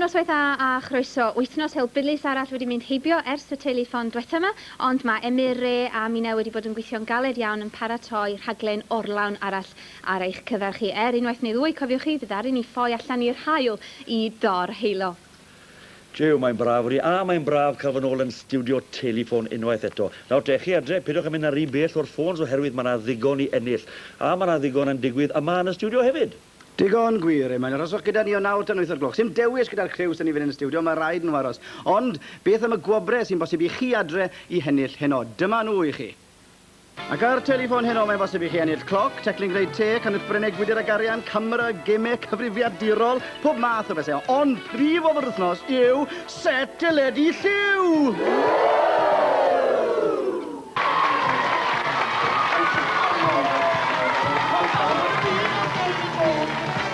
Noswaith dda a chroeso. Wythnos helbulus arall wedi mynd heibio ers y telefon dwetha yma, ond mae Emyr, Re a Mina wedi bod yn gweithio'n galed iawn yn paratoi rhaglen orlawn arall ar eich cyfer chi. Er unwaith neu ddwy, cofiwch chi, fe ddaru ni ffoi allan i'r haul i dor-heilo. Jiw, mae'n braf wri, a mae'n braf cael fy nôl yn stiwdio Teliffon unwaith eto. Nawr te, chi adre, peidiwch â mynd yn rhy bell o'r ffôns oherwydd mae 'na ddigon i ennill. A mae 'na ddigon yn digwydd yma yn y stiwdio hefyd! Digon gwir, Eman. Arhoswch gyda ni o naw tan wyth o'r gloch. Sdim dewis gyda'r criw sy'n i fynd yn y stiwdio, mae rhaid nhw aros. Ond, beth am y gwobrau sy'n bosib i chi adre i hennill heno? Dyma nhw i chi! Ac ar Telefon Heno mae'n bosib i chi ennill cloc, teclyn gwneud te, canwyll breneg gwydr a garian, camera, gemau cyfrifiadurol, pob math o bethau. Ond prif ofr wythnos yw set teledu lliw!